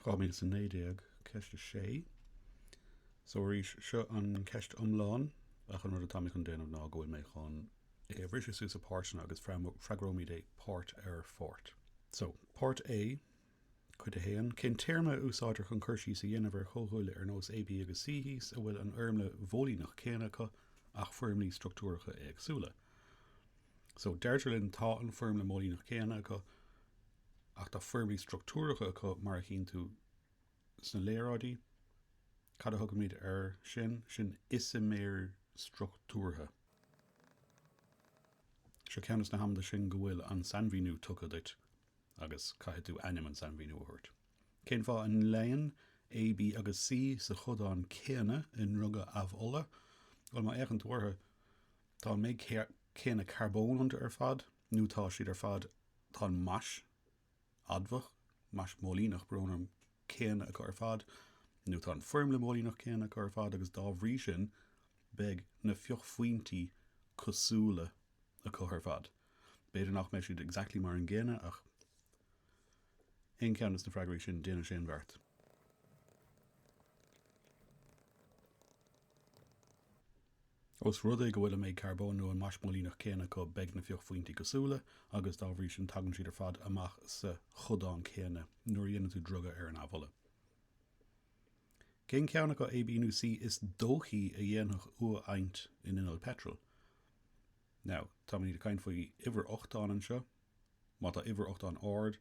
2019, Ceist 6. So arís, seo an ceist iomlán, ach an rud atá mé chun déanamh ná go bhfuil mé chun é a bhriseadh suas i páirteanna agus freagróimid é páirt ar pháirt. So, Páirt A, Cuid 1, Cén téarma a úsáidtear chun cur síos a dhéanamh ar chomhdhúile ar nós A, B agus C thíos a bhfuil an fhoirmle mhóilíneach céanna acu ach foirmlí struchtúracha éagsúla? So, deirtear linn tá an foirmle mhóilíneach céanna acu. ach tá foirmlí struchtúracha acu mar a chíonn tú sna léaráidí. Cad a thugaimid air sin? Sin isiméir struchtúrtha. Seo ceann de na hamanta sin go bhfuil an sainmhíniú tugtha duit agus caithfidh tú ainm an sainmhíniú a thabhairt. Cén fáth a mbíonn A, B agus C sa chodán céanna i ndriogadh amhola? Bhuel, má fhéachann tú orthu, tá an méid céanna carbón iontu ar fad. nó tá siad ar fad, tá an mais adamhach, mais mhóilíneach, brón orm, céanna acu ar fad, nó tá an foirmle mhóilíneach céanna acu ar fad, agus dá bhrí sin, beidh na fiuchphointí cosúla acu ar fad. B'fhéidir nach mbeidh siad exactly mar an gcéanna, ach aon cheann de na freagraí sin, déanann sé an beart. Ós rud é go bhfuil an méid carbón nó an mais mhóilíneach céanna acu beidh na fiuchphointí cosúla agus dá bhrí sin tagann siad ar fad amach sa chodán céanna nuair a dhéanann tú driogadh ar an amhola. Cén ceann acu, A, B nó C, is dóichí a dhéanfadh uathadhaint in inneall peitril? Now, táimid ag caint faoi uimhir ochtáin anseo. Má tá uimhir ochtáin ard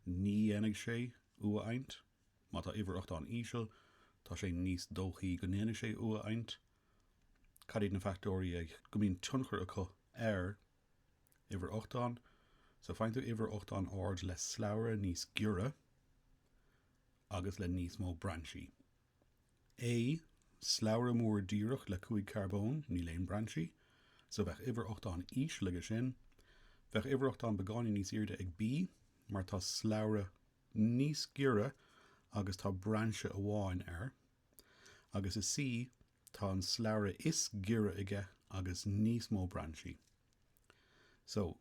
ní dhéanfaidh sé uathadhaint. Má tá uimhir ochtáin íseal tá sé níos dóichí go ndéanfaidh sé uathadhaint. Cad iad na fachtóirí ag go mbíonn tionchar acu ar uimhir ochtáin? So faigheann tú uimhir ochtáin ard le slabhra níos giorra agus le níos mó brainsí. A, Slabhra mór díreach le cúig carbón, níl aon brainsí, so bheadh uimhir ochtáin íseal aige sin. Bheadh uimhir ochtáin beagáinín níos airde ag B mar tá slabhra níos giorra agus tá brainse amháin air. Agus is C, tá an slabhra is giorra aige agus níos mó brainsí. So,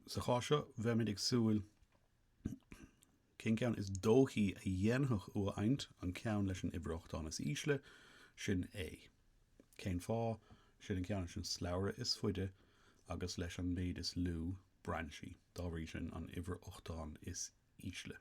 sa chás seo, bheimis ag súil cén ceann is dóichí a dhéanfadh uathadhaint, an ceann leis an uimhir ochtáin is ísle, sin A. Cén fáth? Sin an ceann leis an slabhra is faide agus leis an méid is lú brainsí, dá bhrí sin, an uimhir ochtáin is ísle.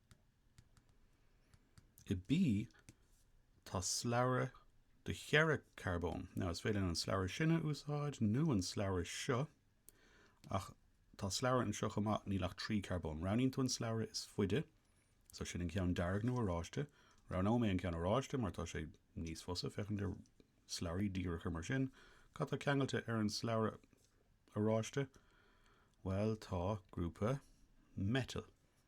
i B tá slabhra de cheithre carbón. Now is féidir linn an slabhra sin a úsáid nó an slabhra seo ach tá slabhra anseo chomh maith níl ach trí charbón. Roghnaíonn tú an slabhra is faide so sin an ceann dearg nó oráiste. Roghnóidh mé an ceann oráiste mar tá sé níos fusa féachaint do slabhraí díreacha mar sin. Cad tá ceangailte ar an slabhra oráiste? Bhuel tá grúpa meitil.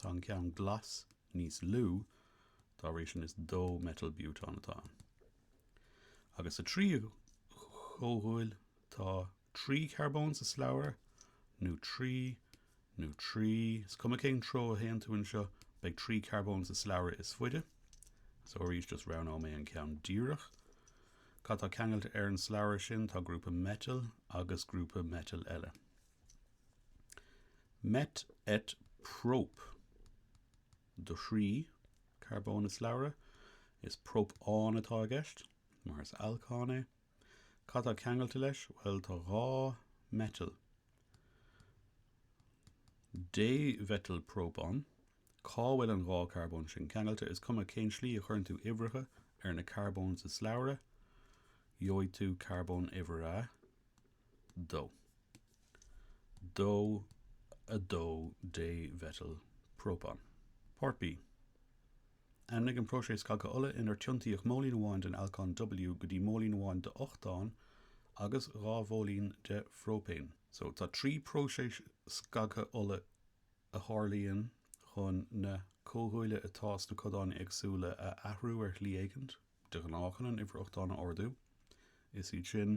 Tá an ceann glas níos lú, dá bhrí sin is dó-meitil-bútán atá. Agus sa tríú comhdhúil tá trí charbón sa slabhra, nó trí, nó trí, is cuma cén treo a théann tú anseo beidh trí charbón sa slabhra is faide, so arís just roghnóidh mé an ceann díreach. Cad tá ceangailte ar an slabhra sin? Tá grúpa meitil agus grúpa meitil eile. Met et prop do thrí carbón i slabhra, is própán atá i gceist, mar is alcán é. Cad tá ceangailte leis? Bhuel, tá dhá meitil. Démheitil própán. Cá bhfuil an dhá charbón sin ceangailte? Is cuma cén slí a chuireann tú uimhreacha ar na carbóin sa slabhra, gheobhaidh tú carbón uimhir a. 2. 2, a 2 démheitil própán. Páirt B, Ainmnigh an próiseas scagtha ola inar tiontaíodh móilín amháin den alcán W go dtí móilín amháin d'ochtán agus dhá mhóilín de phróipéin. So, tá trí próiseas scagtha ola a tharlaíonn chun na comhdhúile atá sna codáin éagsúla a athrú ar shlí éicint, de ghnáth chun an uimhir ochtáin a ardú, is iad sin.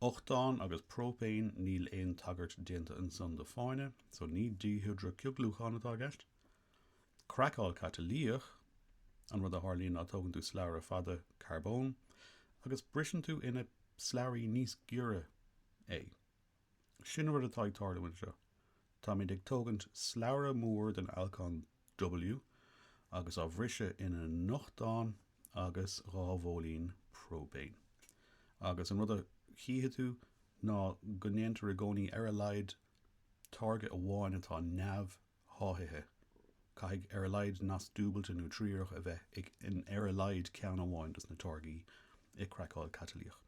Ochtán agus próipéin, níl aon tagairt déanta ansan do fáinne, so ní díhidrea-chioglúchán atá i gceist. Craiceáil catalaíoch, an rud a tharlaíonn ná tógann tú slabhra fada carbóin agus briseann tú ina slabhraí níos giorra é. Sin an rud atá ag tarlú anseo. Táimid ag tógaint slabhra mór den alcán W, agus á bhriseadh ina ochtán agus dhá mhóilín próipéin. Agus an rud a chífidh tú ná go ndéantar i gcónaí ar a laghad táirge amháin atá neamhsháithithe. Caithfidh ar a laghad nasc dúbailte nó triarach a bheith in ar a laghad ceann amháin dos na táirgí i gcraiceáil catalaíoch.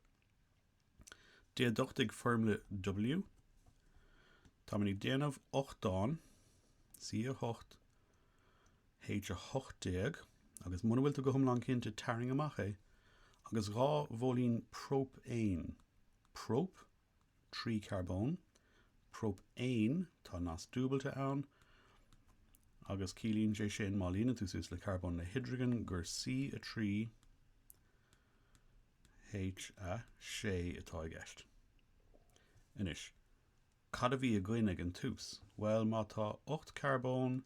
Déaduchtaigh foirmle W. Táimid ag déanamh ochtán C8, H18 agus muna bhfuil tú go hiomlán cinnte tarraing amach é agus dhá mhóilín próipéin, prop, trí charbón, próipéin, tá nasc dúbailte ann, agus ciallaíonn sé sin má líonann tú suas le carbón le hidrigin gur C3, H6 atá i gceist. Anois, cad a bhí againn ag an tús? Bhuel, má tá ocht carbón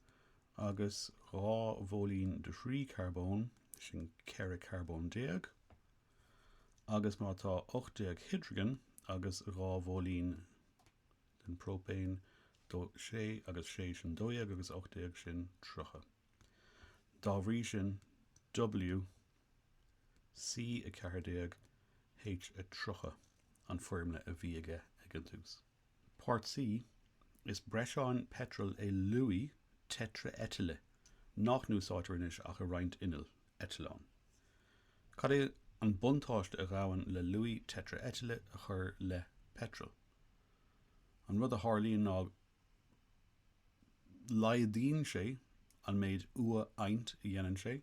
agus dhá mhóilín de thrí charbón, sin ceithre carbón déag, agus má tá ocht déag hidrigin agus dhá mhóilín den próipéin, sé agus sé sin dó dhéag agus ocht déag sin tríocha. Dá bhrí sin, W. C14, H30 an foirmle a bhí aige ag an tús. Part C, Is breiseán peitril é luaidhe teitrea-eitile nach n-úsáidtear anois ach i roinnt innill eitleáin. Cad é an buntáiste a ghabhann le luaidhe teitrea-eitile a chur le peitreal? An rud a tharlaíonn ná laghdaíonn sé an méid uathadhaint a dhéanann sé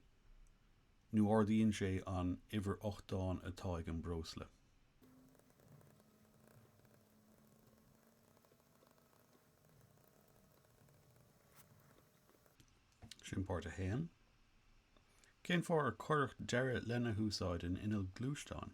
nó ardaíonn sé an uimhir ochtáin atá ag an breosla. Sin páirt a haon. Cén fáth ar cuireadh deireadh lena húsáid in innill gluaisteáin?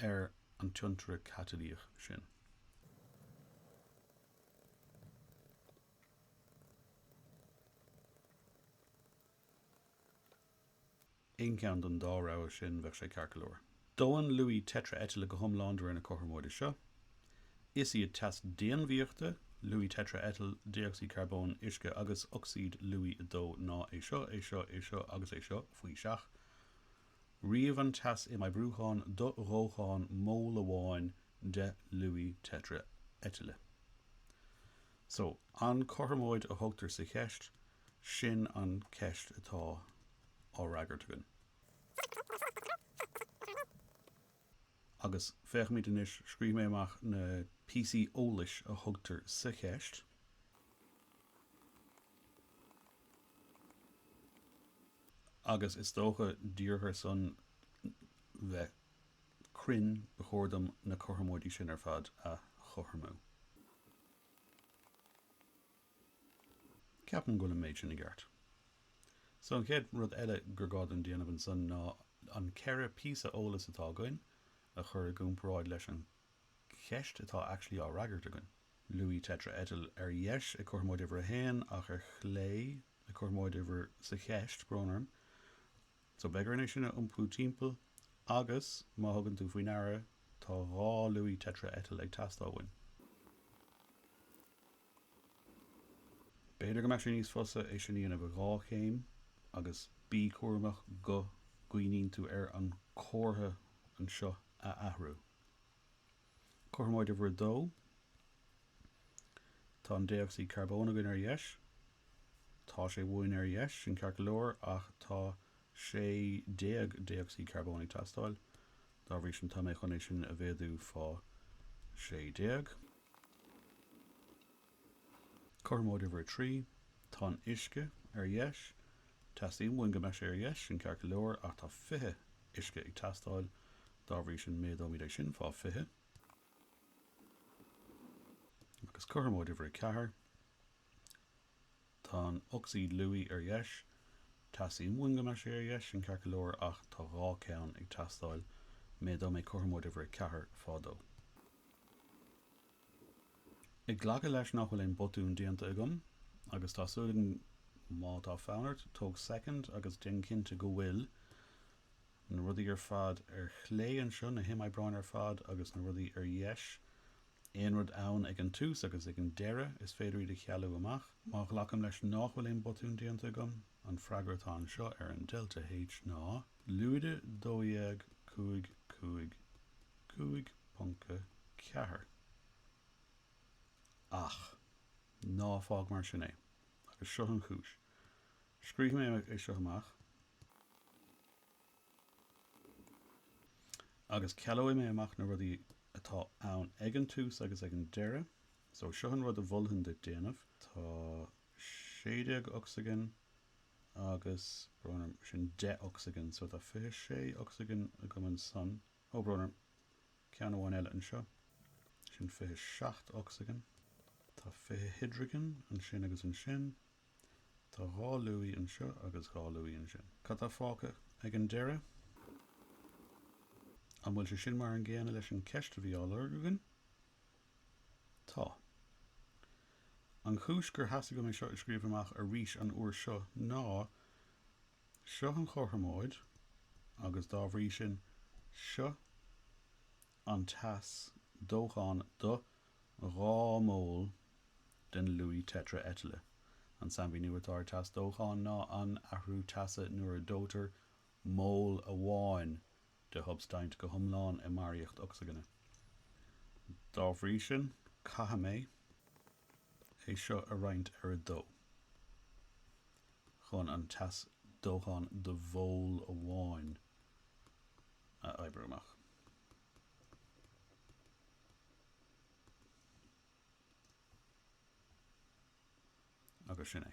ar an tiontaire catalaíoch sin. Aon cheann den dá rogha sin, bheadh sé ceart go leor. Dónn luaidhe teitrea-eitile go hiomlán de réir na cothromóide seo. Is iad teas déanmhaíochta luaidhe teitrea-eitil, dé-ocsaíd charbóin, uisce, agus ocsaíd luaidhe 2 ná é seo, é seo, é seo agus é seo faoi seach. Ríomh an teas imoibrúcháin do dhóchán móil amháin de luaidhe teitrea-eitile. So, an cothromóid a thugtar sa cheist, sin an ceist atá á fhreagairt againn. Agus féachaimid anois, scríobh mé amach na píosaí eolais a thugtar sa cheist. Agus is dócha díreach ar son bheith cruinn ba chóir dom na cothromóidí sin ar fad a chothromú. Ceapaim go bhfuil an méid sin i gceart. So an chéad rud eile gur gá dom déanamh ansan ná an ceithre phíosa eolais atá againn a chur i gcomparáid leis an cheist atá actually á fhreagairt againn. Luaidhe teitreitil ar dheis i gcothromóid uimhir a haon ach ar chlé i gcothromóid uimhir sa cheist, brón orm. So beidh orainn é sin a iompú timpeall agus má thugann tú faoi ndeara tá dhá luaidhe teitreitil ag teastáil uainn. B'fhéidir go mbeadh sé níos fusa é sin a dhéanamh i dhá chéim agus bí cúramach go gcuimhníonn tú ar an comhartha anseo a athrú. Cothromóid uimhir a dó, Tá an dé-ocsaíd charbóin againn ar dheis. Tá sé uainn ar dheis, sin ceart go leor, ach tá sé déag dé-ocsaíd charbóin ag teastáil. Dá bhrí sin tá mé chun é sin a mhéadú fá sé déag. Cothromóid uimhir a trí, tá an uisce ar dheis. Teastaíonn uainn go mbeadh sé ar dheis, sin ceart go leor, ach tá fiche uisce ag teastáil, dá bhrí sin méadóimid é sin fá fiche. Agus cothromóid uimhir a ceathair, tá an ocsaíd luaidhe ar dheis. Teastaíonn uainn go mbeadh sé ar dheis, sin ceart go leor, ach tá dhá ceann ag teastáil, méadóidh mé cothromóid uimhir a ceathair fá dó. Ag glacadh leis nach bhfuil aon botún déanta agam, agus tá súil againn má tá fonn ort tóg soicind agus déan cinnte go bhfuil na rudaí ar fad ar chlé anseo, na himoibreáin ar fad agus na rudaí ar dheis, aon rud ann ag an tús agus ag an deireadh, is féidir iad a chealú amach. Má ghlacaim leis nách bhfuil aon botún déanta agam, an freagra atá anseo ar an Delta H ná. Lúide 12555.4 Ach ná fág mar sin é, agus seo an chúis. Scríobhfaidh mé é seo amach, agus cealóidh mé amach na rudaí atá ann ag an tús agus ag an deireadh so seo an rud a mholfainn duit déanamh, tá sé déag ocsaigin Agus brón orm, sin deich ocsaigin, so tá fiche sé ocsaigin agam ansan. Ó, brón orm, ceann amháin eile anseo. Sin fiche seacht ocsaigin. Tá fiche hidrigin ansin agus ansin. Tá dhá luaidhe anseo agus dhá luaidhe ansin. Cad tá fágtha ag an deireadh? An bhfuil sé sin mar an gcéanna leis an cheist a bhí á lorg againn? Tá. An chúis gur thosaigh mé é seo a scríobh amach arís an uair seo ná, seo an chothromóid agus dá bhrí sin seo an teas dócháin do dhá mhól den luaidhe teitreitile. An sainmhíniú atá ar teas dócháin ná an t-athrú teasa nuair a dóitear mól amháin de shubstaint go hiomlán i mbarraíocht ocsaigine. Dá bhrí sin, caithfidh mé é seo a roinnt ar a dó chun an teas dócháin do mhól amháin a oibriú amach. Agus sin é.